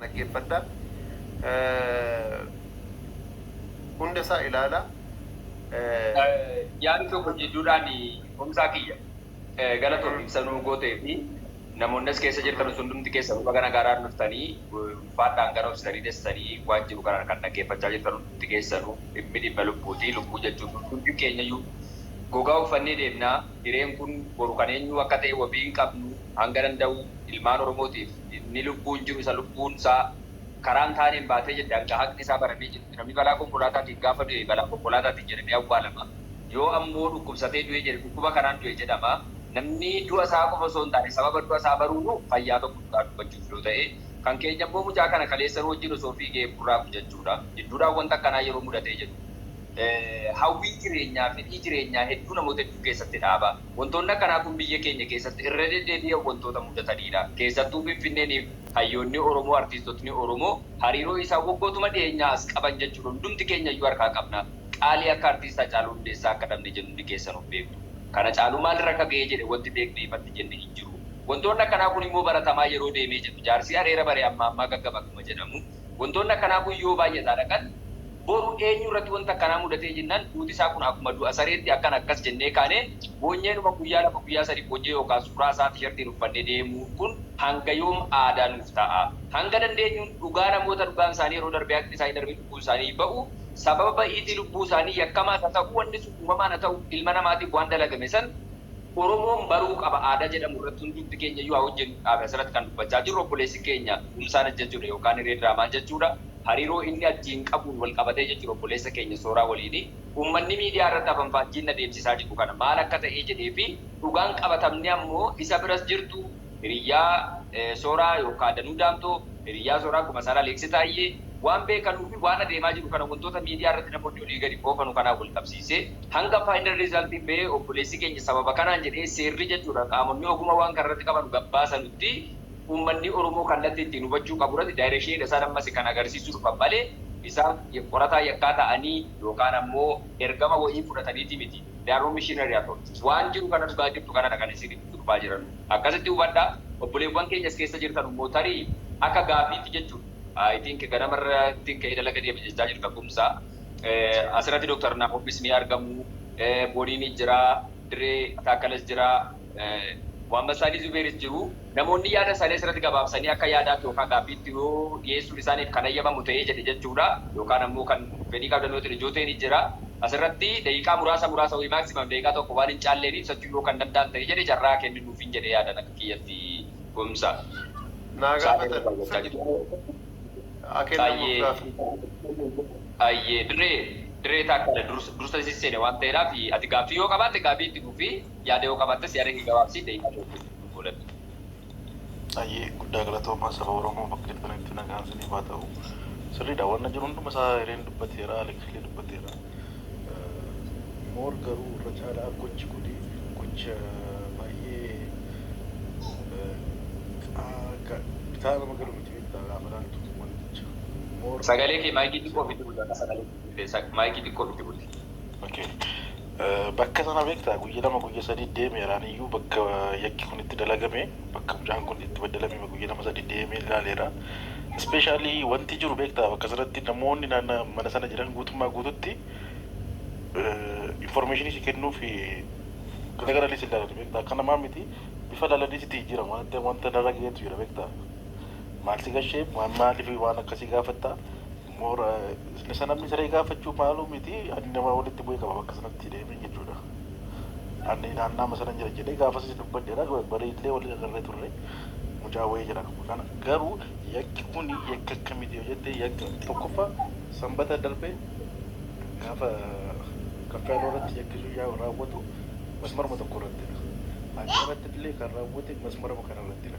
dhaggeeffadha. Hunda isaa ilaala. Yaada tokko jidduudhaan humsaa kiyya galatoon ibsa nuu gootee fi namoonni as keessa jirtan hundumti keessa baga nagaadhaan dhuftanii ulfaadhaan gara obsitanii dessanii waan jiru kanaan kan dhaggeeffachaa jirtan hundumti keessanuu dhimmi dhimma lubbuuti. Lubbuu jechuun hundumti keenyayyuu gogaa uffannee deemnaa. hireen kun boru kan eenyuu akka ta'e wabii hin qabnu, hanga danda'u ilmaan Oromootiif inni lubbuun jiru isa lubbuun isaa karaa hin taaneen baatee jedhe hanga haqni isaa baramee jedhutti namni balaa konkolaataatiin gaafa du'e balaa konkolaataatiin jedhamee awwaalama, yoo ammoo dhukkubsatee du'e jedhe dhukkuba kanaan du'e jedhama, namni du'a isaa qofa osoo hin taane sababa du'a isaa baruunu fayyaa tokko dhugaa dubbachuuf yoo ta'e, kan keenya immoo mucaa kana kaleessa nu wajjin osoo fiigee burraaqu jechuudha, jidduudhaan wanta akkanaa yeroo mudatee jedhu. hawwii jireenyaa, fedhii jireenyaa hedduu namoota hedduu keessatti dhaaba. Wantoonni akkanaa kun biyya keenya keessatti irra deddeebi'an wantoota mudataniidha. Keessattuu Finfinneeniif hayyoonni Oromoo, artiistotni Oromoo hariiroo isaan waggootuma dhiyeenyaa as qaban jechuudha. Hundumti keenya iyyuu harkaa qabna. Qaalii akka Artiist Hacaaluu Hundeessaa akka dhabne jennu hundi keessan of beektu. Kan Hacaaluu maal irra akka ga'ee jedhe wanti beekne ifatti jenne hin jiru. Wantoonni akkanaa kun immoo baratamaa yeroo deemee jedhu. Jaarsii areera bare ammaa ammaa gaggaba akkuma jedhamu. Wantoonni akkanaa kun yoo baay'ataa dhaqan, boru eenyu irratti wanti akkanaa mudatee jennaan duuti isaa kun akkuma du'a sareetti akkan akkas jennee kaanee boonyeenuma guyyaa lama guyyaa sadii boonyee yookaan suuraa isaa tishartiin uffannee deemuun kun hanga yoom aadaa nuuf ta'a? Hanga dandeenyuun dhugaa namoota dhugaan isaanii yeroo darbee haqni isaanii darbee lubbuun isaanii ba'u sababa ba'iitii lubbuu isaanii yakkamaas haa ta'u wanni sun uumamaan haa ta'u ilma namaatiif waan dalagame san Oromoon baruu qaba aadaa jedhamu irratti hundumti keenya iyyuu haa hojjennu dhaabe asirratti kan dubbachaa jirru obboleessi keenya Kumsaan Ajjachuudha yookaan Hiree Diraamaa Ajjachuudha hariiroo inni Ajjiin qabuun wal qabatee jechuudha obboleessa keenya Sooraa waliini ummanni miidiyaa irratti afanfaajjiin adeemsisaa jiru kana maal akka ta'ee jedhee fi dhugaan qabatamni ammoo isa biras jirtu hiriyyaa Sooraa yookaa Danuu Daamxoo, hiriyyaa Sooraa akkuma Saaraa Leeksi Taayyee, waan beekanuu fi waan adeemaa jiru kana wantoota miidiyaa irratti namoonni olii gadi oofanu kanaan wal qabsiisee hanga final result bahee obboleessi keenya sababa kanaan jedhee seerri jechuudha qaamonni oguma waan kana irratti qabanu gad baasanutti uummanni Oromoo kallatti ittiin hubachuu qabu irratti direction dha isaan ammas kan agarsiisuu dhufan malee isaan qorataa yakkaa ta'anii yookaan ammoo ergama wayii fudhataniiti miti they are not missionary at all waan jiru kana dhugaa jirtu kanadha kan isin durbaa jiranu. Akkasitti hubadha. Obboleewwan keenya as keessa jirtanu immoo tarii akka gaaffiitti jechuudha. I think ganama irrattin ka'ee dalaga deema jechaa jirta Kumsa. As irratti Dr. Naahomis ni argamu. Boniinis jira. Diree Taakkalas jira. Mohammad Saalih Zubeeris jiru. Namoonni yaada isaanii as irratti gabaabsanii akka yaadaatti yookaan gaaffiitti yoo dhiyeessuun isaaniif kan hayyamamu ta'ee jedhe jechuudha. Yookaan ammoo kan fedhii qabdan yoo ta'e Jooteenis jira. As irratti daqiiqaa muraasa muraasa wayii maximum daqiiqaa tokko waan hin caalleef ibsachuu. argachuu yoo kan danda'an ta'e jedhe carraa kenni nuufin jedhe yaadan akka kiyyatti gomsa Naa saalee gaafatan irraa jechaa sirrii jirti. haa kennamuuf gaaffii. Hayyee hayyee dirree dirree taakkala dursa dursa isin seene waan ta'eedhaaf ati gaaffii yoo qabaatte gaaffii itti fufi yaada yoo qabaattes yaada kee gabaabsii daqiiqaa tokko nuuf godhadhu Hayyee guddaa galatoomaa saba oromoo bakka jirtanitti nagaan siniif haa ta'u sirriidha wanna jiru hunduma isaa hireen dubbateera aleksillee dubbateera moor garuu irra caalaa gochi kuni gocha baay'ee bitaa nama galu miti beektaa gaafa laaltu wanticha moor Sagalee kee maayikii xiqqoo ofitti buusi akka sagalee. Isaaq maayikii xiqqoo itti buti. Okay. Bakka sana beektaa guyya lama guyya sadii deemeera aniyyuu bakka yakki kun itti dalagame bakka mucaan kun itti baddalamime guyya lama sadii deemee ilaaleera. Ispeeshaalii wanti jiru beektaa bakka sanatti namoonni naanna mana sana jiran guutummaa guututti informeeshinii si kennuuf garagaralii si ilaalani beektaa akka namaa miti bifa laalanii sitti jijjiiramu wanatti wanta narra ga'eetu jira beektaa maal si gashee maaliif waan akkasii gaafattaa Moora isa namni saree gaafachuu maaluu miti ani namaa walitti bu'ee qaba bakka sanatti deemeen jechuudha. Ani naannaama sanan jira jedhee gaafasas dubbadheera bariillee waliin agarree turre mucaa wayii jedha. Kana garuu yakki kun yakka akkamiti yoo jette yakka tokkoffaa sanbata darbe gaafa kaffiyaaloo irratti yakki sun yaa raawwatu masmaruma tokko irrattidha. Hanqaratti illee kan raawwate masmaruma kana irrattidha.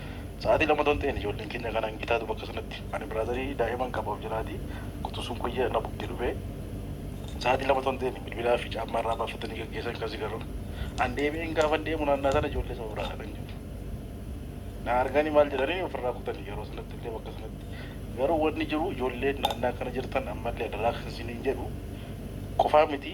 Sa'aatii lama otoo hin ta'in ijoolleen keenya kanaan gitaatu bakka sanatti. Ani biraadarii daa'iman qaba of jalaatii quxusuun kuyya na bugde dhufee sa'aatii lama otoo hin ta'in bilbilaa fi caammaa irraa baafatanii gaggeessan kan sigarru. An deebi'een gaafan deemu naannaa sana ijoollee saba biraadha kan jiru. Na arganii maal jedhanii of irraa kutani yeroo sanatti illee bakka sanatti. Garuu wanni jiru ijoolleen naannaa kana jirtan ammallee adaraa kan isiniin jedhu qofaa miti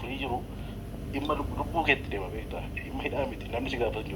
Kuni jiru dhimma lubbuu keetti deema beekta dhimma hidhaa miti namni si gaafatu hin jiru.